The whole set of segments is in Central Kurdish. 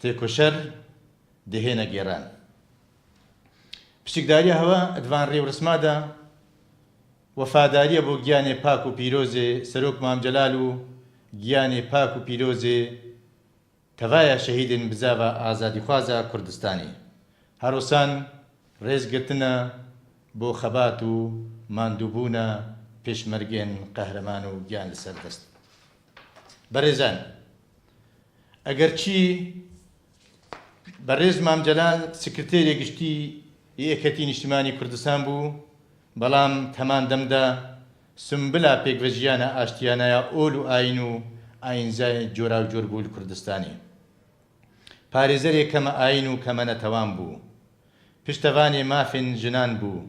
تێکۆشەر دهێنە گێران پشکداریە هەوە ئەدڤان ڕێورسمادە وەفاداریە بۆ گیانێ پاک و پیرۆزێ سەرۆک مام جەلال و گیانێ پاک و پیرۆزێ تەڤایا شەهیدێن بزاڤە ئازادیخوازە کوردستانی هەرۆسان ڕێز گرتنە بۆ خەبات و ماندووبوونە پێشمەرگێن قەهرەمان و گیان لەسەر دەست بەرێزان ئەگەرچی بەرێز مام جەلال سکرتێری گشتی یەکەتی نیشتمانی کوردستان بوو بەڵام تەمان دەمدا سمبلا پێک بە ژیانە ئاشتیانەیە ئۆل و ئاین و ئاینزای جۆرا و جۆر بوول کوردستانی پارێزەرێ کەمە ئاین و کەمە نەتەوان بوو پشتەوانێ مافێن ژنان بوو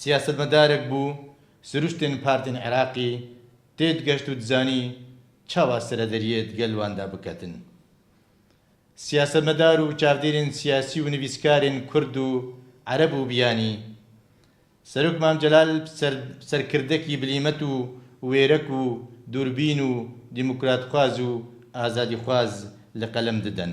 سیاسەتمەدارێک بوو سروشتێن پارتێن عراقی تێد گەشت و دزانی چاوا سەرە دەریێد گەل واندا بکەتن. سیاسەتمەدار و چاودێرێن سیاسی و نڤیسکارێن کورد و عەرەب و بیانی، سەرۆک مام جەلال سەرکردەکی بلیمەت و وێرەک و دوربین و دیموکراتخواز و ئازادیخواز لە قەلەم ددەن